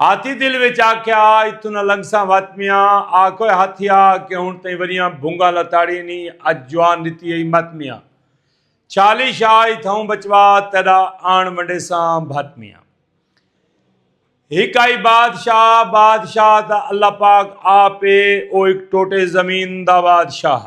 ہاتھی دل وچ آکھیا اتھوں نہ لنگساں وت میاں آکھوئے ہاتھی آ کہ ہن تئیں وریاں بھونگا لتاڑی نی اج جوان ڈتی ہئی مت میاں چھالی شاہ اتھاؤں بچوا تیڈا آن ونڈیساں بھت میاں ہک آئی بادشاہ بادشاہ تا اللہ پاک آپ اے او ہک ٹوٹے زمین دا بادشاہ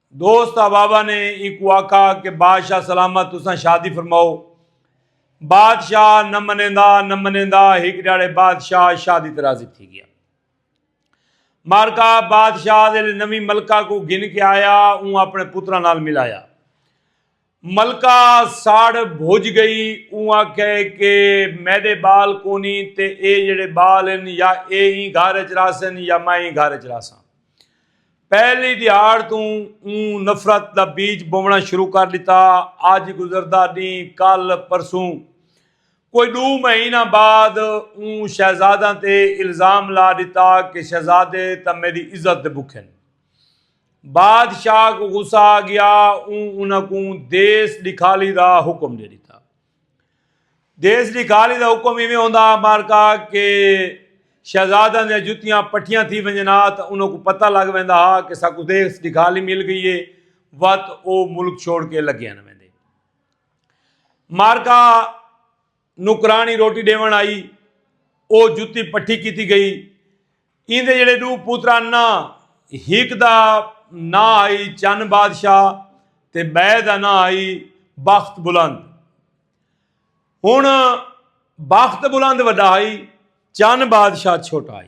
دوست آبابا نے ایکو آکھا کہ بادشاہ سلامت تساں شادی فرماؤ بادشاہ نہ منیندا نہ منیندا ہک ڈاڑے بادشاہ شادی تے راضی تھی گیا مارکا بادشاہ دے نوی ملکہ کو گھن کے آیا اون اپنے پترا نال ملایا ملکہ ساڑ بھج گئی اوں آکھیا ہے کہ میڈے بال کونی تے اے جیڑے بال ہن یا اے ایں گھر اچ رہسن یا میں ایں گھر اچ رہساں پہلی دیہاڑ توں اوں نفرت دا بیج بوونا شروع کر ڈتا اج گزردا ڈینہہ کل پرسوں کوئی ڈو مہینہ بعد اوں شہزاداں تے الزام لا ڈتا کہ شہزادے تاں میڈی عزت دے بکھن بادشاہ کوں غصہ آ گیا اوں انہاں کوں دیس ڈکھالی دا حکم دے ڈتا دیس ڈکھالی دا حکم ایویں ہوندا مارکا کہ شہزادہ نے جتیاں پٹیاں تھی ونجنا تا انہوں کو پتہ لگ ویندا ہا کہ ساکو دیکھ دکھالی مل گئی ہے وقت او ملک چھوڑ کے لگے آنے ویندے مارکا نوکرانی روٹی ڈیون آئی او جتی پٹھی کیتی گئی ایندے جڑے ڈو پوترا نا ہیک دا نا آئی چن بادشاہ تے بے دا نا آئی بخت بلند ہن بخت بلند وڈا آئی چن بادشاہ چھوٹا آئی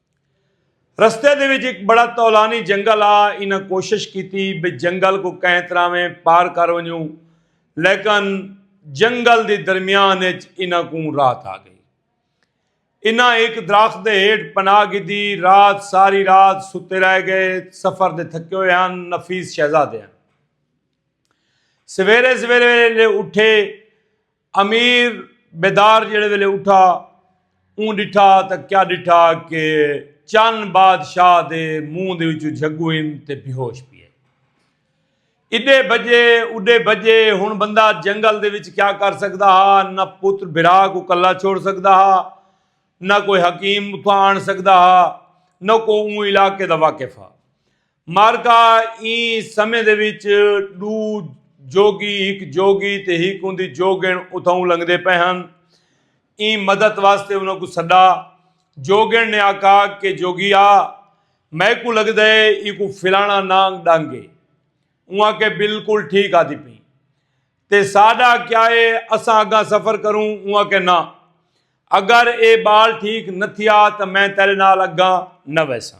رستے دے وچ ہک بڑا طولانی جنگل آ انہاں کوشش کیتی بھئی جنگل کوں کہیں طرح ویں پار کر ونجوں لیکن جنگل دی درمیان اچ انہاں کوں رات آ گئی انہاں ہک درخت دے ہیٹھ پناہ گھدی رات ساری رات ستے رہ گئے سفر دے تھکے ہوئے ہن نفیس شہزادے ہن سویرے سویرے اٹھے امیر بیدار جیڑھے ویلے اٹھا اوں ڈٹھا تاں کیا ڈٹھا کہ چن بادشاہ دے منہ دے وچوں جھگو ہن تے بیہوش پیئے اڈے بجے اڈے بجے ہن بندہ جنگل دے وچ کیا کر سکدا ہا نہ پتر بھرا کو کلا چھوڑ سکدا ہا نہ کوئی حکیم اتھاں آن سکدا ہا نہ کو اوں علاقے دا واقف ہا معرکہ ایں سمے دے وچ ڈو جوگی ہک جوگی تے ہک ہوندی جوگن اتھاؤں لنگدے پے ہن ایں مدد واسطے انہاں کو سڈا جوگن نے آکھا کہ جوگیا میں کو لگدا ہے ای کو فلانا نانگ ڈنگ ہے اواں کے بالکل ٹھیک آدھی پی تے ساڈا کیا ہے اساں اگا سفر کروں اواں کے نہ اگر اے بال ٹھیک نہ تھیا تو میں تیرے نال اگا نہ ویساں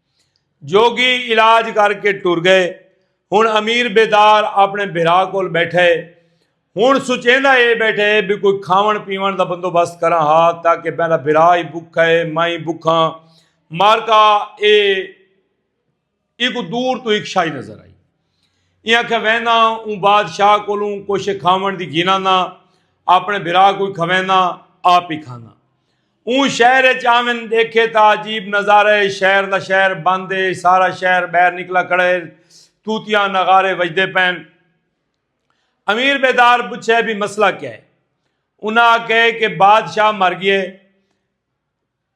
جوگی علاج کر کے ٹر گئے۔ ہن امیر بیدار اپنے بھرا کول بیٹھا ہے۔ ہن سوچیندا ہے بیٹھا ہے بھئی کوئی کھاون پیون دا بندوبست کراں ہا تاکہ میڈا بھرا ہی بکھا ہے میں بکھاں مارکا اے ایکوں دور توں ہک شاہی نظر آئی۔ ایں آکھیا ویندا ہاں اوں بادشاہ کولوں کچھ کھاوݨ دی گھناندا اپݨے بھرا کوں کھویندا آپ ای کھاندا اوں شہر اچ آون ڈیکھے تا عجیب نظارہ اے شہر دا شہر بند اے سارا شہر بہر نکلا کھڑا اے توتیاں نغارے وجدے پین امیر بیدار پچھے بھی مسئلہ کیا اے انہاں آکھے کہ بادشاہ مر گئے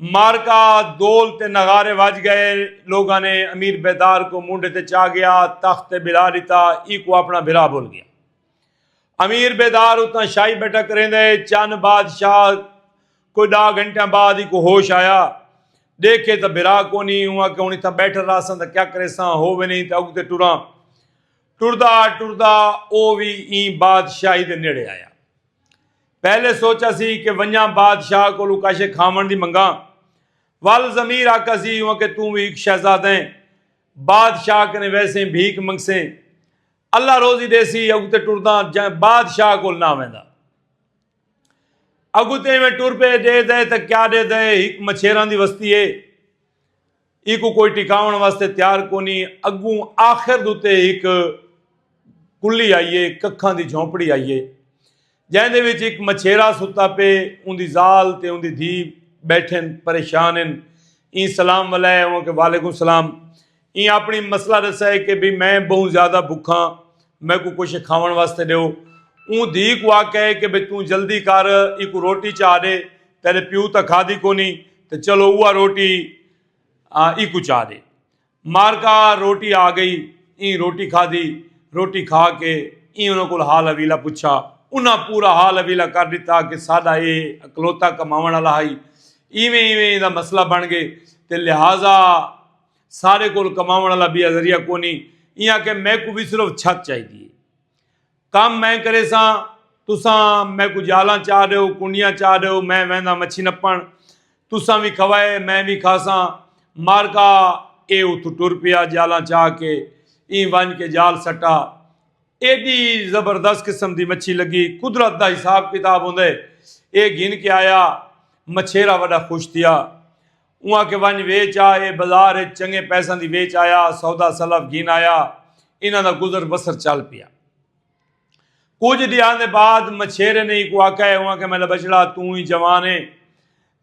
معرکہ دول تے نغارے وج گئے لوگاں نے امیر بیدار کو مونڈے تے چا گیا تخت تے بلا ڈتا ای کو اپنا بھرا بھول گیا امیر بیدار اتنا شاہی بیٹا کریں دے چن بادشاہ کوئی ڈا گھنٹہ بعد ای کو ہوش آیا دیکھے تا بھرا کو نہیں ہوا کہ ہونی تھا بیٹھر رہا سن تا کیا کرے ساں ہو بھی نہیں تا اگ تے ٹورا ٹوردا ٹوردا او بھی این بادشاہی دے نیڑے آیا پہلے سوچا سی کہ ونجاں بادشاہ کولوں کاشے کھاون دی منگاں ول ضمیر آکھا سی ہوں کہ توں وی ہک شہزادہ ہیں بادشاہ کنے ویسیں بھیک منگسیں اللہ روزی دیسی اگو تے ٹرداں جائیں بادشاہ کول نہ ویندا اگو تے میں ٹر پے دے دے تے کیا دے دے ہک مچھیراں دی وستی ہے ایکوں کوئی ٹکاون واسطے تیار کونی اگوں آخر دوتے ایک کلی آئیے ککھاں دی جھونپڑی آئیے جائیں دے وچ ایک مچھیرا ستا پے ان دی زال تے ان دی دھی بیٹھن پریشان ان این سلام ملائے ہیں کہ والیکم سلام این اپنی مسئلہ رسائے کہ بھی میں بہن زیادہ بکھاں میکوں کجھ کھاوݨ واسطے ݙیو۔ اوں دھی کوں آکھئے کہ بھئی توں جلدی کر ایکوں روٹی چا ݙے، تیݙے پیو تاں کھادی کونی تے چلو اوہا روٹی ایکوں چا ݙے۔ مارکا روٹی آ ڳئی، ایں روٹی کھادی، روٹی کھا کے ایں انہاں کول حال حویلہ پچھا۔ انہاں پورا حال حویلہ کر ݙتا کہ ساݙا ایہ اکلوتا کماوݨ آلا ہئی، ایویں ایویں ایندا مسئلہ بݨ ڳئے تے لہذا سارے کول کماون والا بیا ذریعہ کونی ایں آکھے میکو بھی صرف چھت چاہی دی کام میں کرے سا تساں میں کو جالاں چاہ رہے ہو کنڈیاں چاہ رہے ہو میں ویندا مچھی نپن تساں بھی کھوائے میں بھی کھاسا مارکا اے اتو ٹر پیا جالاں چاہ کے ایں ونج کے جال سٹا ایڈی زبردست قسم دی مچھی لگی قدرت دا حساب کتاب ہوندے اے گھن کے آیا مچھیرا وڈا خوش تھیا اوں آکھے ونج ویچ آ اے بزار اچ چنگے پیساں دی ویچ آیا سودا سلف گھن آیا انہاں دا گزر بسر چل پیا کجھ ڈیاں دے بعد مچھیرے نے ایکو آکھا اے اوں آکھے میلا بچڑا توں ہی جوان اے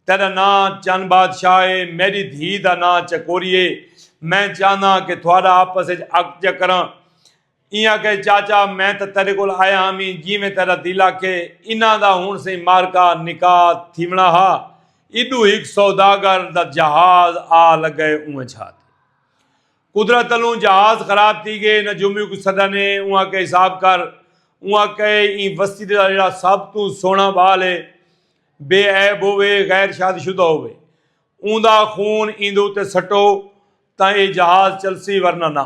تیرا نا چن بادشاہ اے میڈی دھی دا نا چکوری اے میں چاہنداں کہ تھوڑا آپس اچ اک جا کراں ایں آکھے چاچا میں تاں تیڈے کول آیا ہاں وی جیویں تیڈا دل آکھے انہاں دا ہنڑ سئیں معرکہ نکاح تھیونڑا ہا ایڈو ہک سوداگر دا جہاز آ لگئے اونہہ چھا تے قدرت الوں جہاز خراب تھی گئے نجومی کوں سڈانے اوں آکھے حساب کر اوں آکھے ایں وستی دا جیڑا سب توں سوہنڑا بال ہے بے عیب ہووے غیر شاد شدہ ہووے اوندا خون ایندے اتے سٹو تاں اے جہاز چلسی ورنہ نہ۔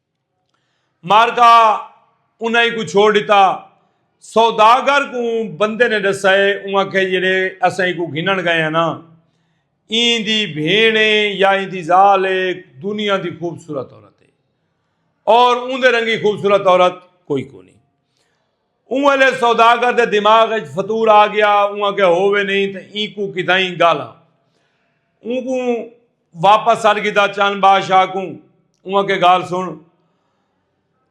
مارکا انہاں ایکوں چھوڑ ݙتا۔ سوداگر کوں بندے نے ݙسا ہے اوں آکھیا جیڑھے اساں ایکوں گھنݨ ڳئے ہاں نا ایں دی بھیݨ ہے یا ایں دی ذال ہے دنیا دی خوبصورت عورت ہے اور اوندے رنگی خوبصورت عورت کوئی کونی۔ اوں ویلے سوداگر دے دماغ اچ فتور آ گیا اوں آکھیا ہووے نہیں تاں اینکوں کتھائیں گالھاں اونکوں واپس سڈ گھدا چن بادشاہ کوں اوں آکھیا گال سن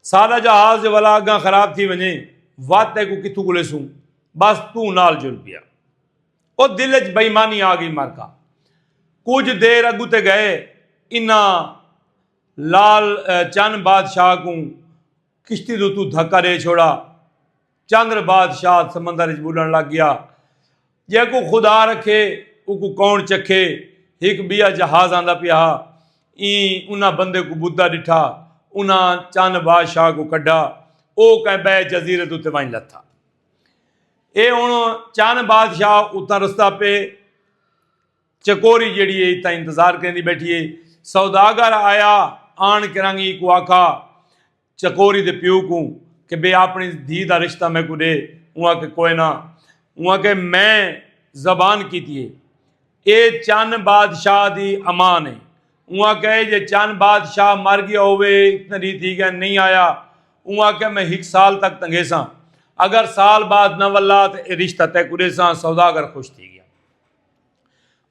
ساڈا جہاز جو ولا اگاں خراب تھی ونجے وت تیکوں کتھوں کولے سوں بس توں نال جل پیا او دل اچ بےمانی آ گئی مرکا کچھ دیر اگو تے گئے انہاں لال چن بادشاہ کوں کشتی دے اتوں دھکا ݙے چھوڑا۔ چندر بادشاہ سمندر وچ ٻݙݨ لڳ ڳیا۔ جیکوں خدا رکھے اوکوں کون چکھے۔ ہک ٻیا جہاز آندا پیا ہا۔ ایں انہاں بندے کوں ٻݙھدا ݙٹھا۔ انہاں چن بادشاہ کوں کڈھا۔ او کہیں ٻئے جزیرے دے اتے ونڄ لتھا۔ اے ہݨ چن بادشاہ اتاں رسدا پئے۔ چکوری جیڑھی ہے اتھاں انتظار کریندی بیٹھی ہے سوداگر آیا آن کرانگی کو آکھا چکوری دے پیو کو کہ بے اپنی دھی دا رشتہ میں کو دے اواں کہ کوئے نہ اواں کہ میں زبان کیتی ہے اے چن بادشاہ دی امان ہے اواں کہ جے چن بادشاہ مر گیا ہوئے اتنا دی تھی گئے نہیں آیا اواں کہ میں ہک سال تک تنگیساں اگر سال بعد نہ ولا تے اے رشتہ تے کو دیساں سوداگر خوش تھی گیا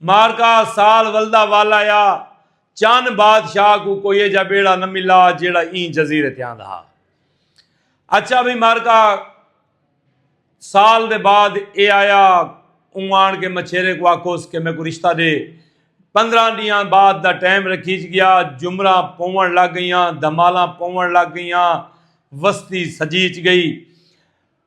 مارکا سال ولدا والا یا چن بادشاہ کو کوئی ایجا بیڑا نہ ملا جیڑا این جزیرے تے آندا ہا اچھا بھی مارکا سال دے بعد اے آیا اون آن کے مچھیرے کو آکوس کہ میں کو رشتہ دے پندرہ ڈیاں بعد دا ٹائم رکھیج گیا جمرہ پون لگ گئیاں دھمالاں پون لگ گئیاں وستی سجیچ گئی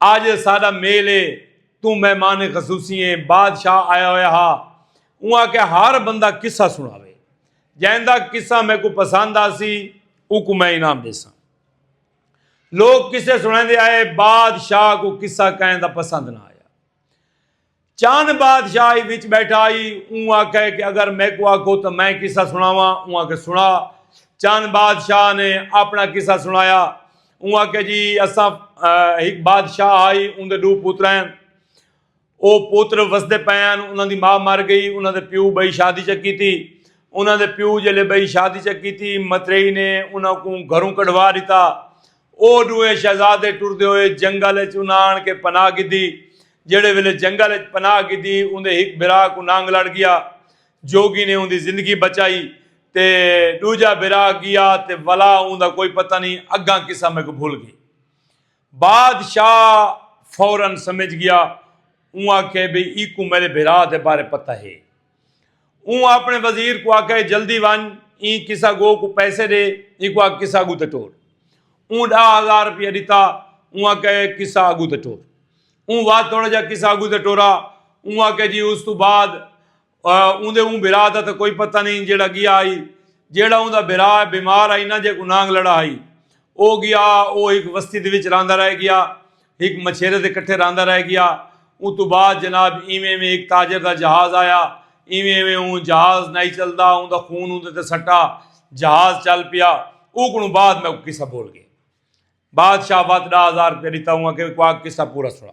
آج اے ساڈا میل اے، توں مہمان خصوصی ایں، بادشاہ آیا ہویا ہا، اوں آکھیا ہر بندہ قصہ سنڑاوے، جیندا قصہ میکوں پسند آسی اونکوں میں انعام ڈیساں۔ لوک قصے سنڑیندے آئے، بادشاہ کوں قصہ کہیں دا پسند نہ آیا۔ چان بادشاہ ہی وچ بیٹھا ہی اون آکھے کہ اگر میں کو آکھو تو میں قصہ سناواں اون آکھے سنا چان بادشاہ نے اپنا قصہ سنایا اون آکھے جی اساں ایک بادشاہ آئی اون دے دو پوتر ہیں او پوتر وسدے پے ہیں انہاں دی ماں مر گئی انہاں دے پیو بئی شادی چکی تھی انہاں دے پیو جلے بئی شادی چکی تھی مترئی نے انہاں کو گھروں کڈوا دیتا او ݙوہیں شہزادے ٹردے ہوئے جنگل اچ انہاں آن کے پناہ گھدی۔ جیڑھے ویلے جنگل اچ پناہ گھدی اوندے ہک بھرا کوں نانگ لڑ ڳیا۔ جوگی نے اوندی زندگی بچائی تے ݙوجھا بھرا ڳیا تے ولا اوندا کوئی پتہ نئیں اڳاں قصہ میکوں بھل ڳئے۔ بادشاہ فورا سمجھ ڳیا۔ اوں آکھے بھئی ایکوں میݙے بھرا دے بارے پتہ ہے۔ اوں آپݨے وزیر کوں آکھیا اے جلدی ونڄ ایں کسا گو کوں پیسے ݙے اینکوں آکھ کسا اڳوں تے ٹور۔ اوں ݙاہ ہزار روپیہ ݙتا اوں آکھیا اے کسا اڳوں تے ٹور۔ اوں ودھ تھوڑا جیہا کسا اڳوں تے ٹورا اوں آکھیا جی اس توں بعد اوندے اوں بھرا دا تاں کوئی پتہ نئیں جیہڑا ڳیا ہئی جیہڑا اوندا بھرا بیمار ہئی ناں جیکوں نانگ لڑا ہئی او ڳیا او ہک وستی دے وچ رہندا رہ ڳیا ہک مچھیرے دے کٹھے رہندا رہ گیا۔ اوں توں بعد جناب ایویں ایویں ہک تاجر دا جہاز آیا۔ ایویں ایویں اوں جہاز نائی چلدا۔ اوں دا خون اوندے تے سٹا۔ جہاز چل پیا۔ اوکوں بعد میکوں قصہ بول گئے۔ بادشاہ وت ڈاہ ہزار روپیہ ڈتا اوں آکھیا وی کواک قصہ پورا سنا۔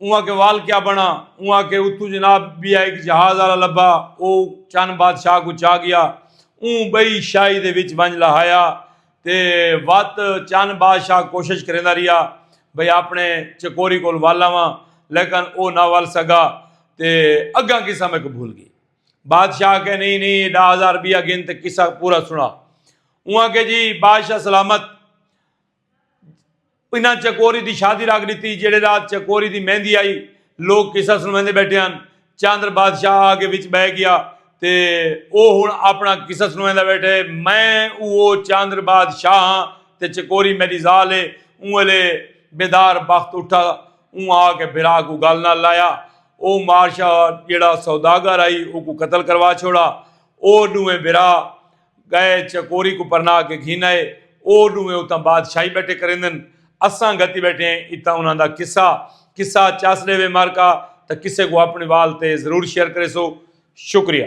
اوہاں کے وال کیا بنا اوہاں کے اتھو جناب بیا ایک جہاز والا لبا او چن بادشاہ کو چا گیا اون بئی شاہی دے وچ ونج لہایا تے وت چن بادشاہ کوشش کریندا ریا بھئی اپنے چکوری کول ول آواں لیکن او نہ ول سگا تے اگاں قصہ میکو بھول گئی بادشاہ کے نہیں نہیں ڈا ہزار بیا گن تے قصہ پورا سنا اوہاں کے جی بادشاہ سلامت انہاں چکوری دی شادی رکھ ڈتی جیڑھے رات چکوری دی مہندی آئی لوگ قصہ سنویندے بیٹھے ہن چاندر بادشاہ آ کے وچ بہ گیا تے او ہن اپنا قصہ سنویندا بیٹھے میں اوہو چاندر بادشاہ ہاں تے چکوری میڈی زال ہے اوں ویلے بیدار بخت اٹھا اوں آ کے بھرا کو گل نال لایا او مارشاہ جیڑا سوداگر آئی او کو قتل کروا چھوڑا او ڈوہیں بھرا گئے چکوری کوں پرنا کے گھن آئے او ڈوہیں اتاں بادشاہی بیٹھے کریندن اساں گھتی بیٹھے ہیں اتاں انہاں دا قصہ قصہ چس ڈیوے مارکا تاں کسے کوں اپنی وال تے ضرور شیئر کریسو شکریہ۔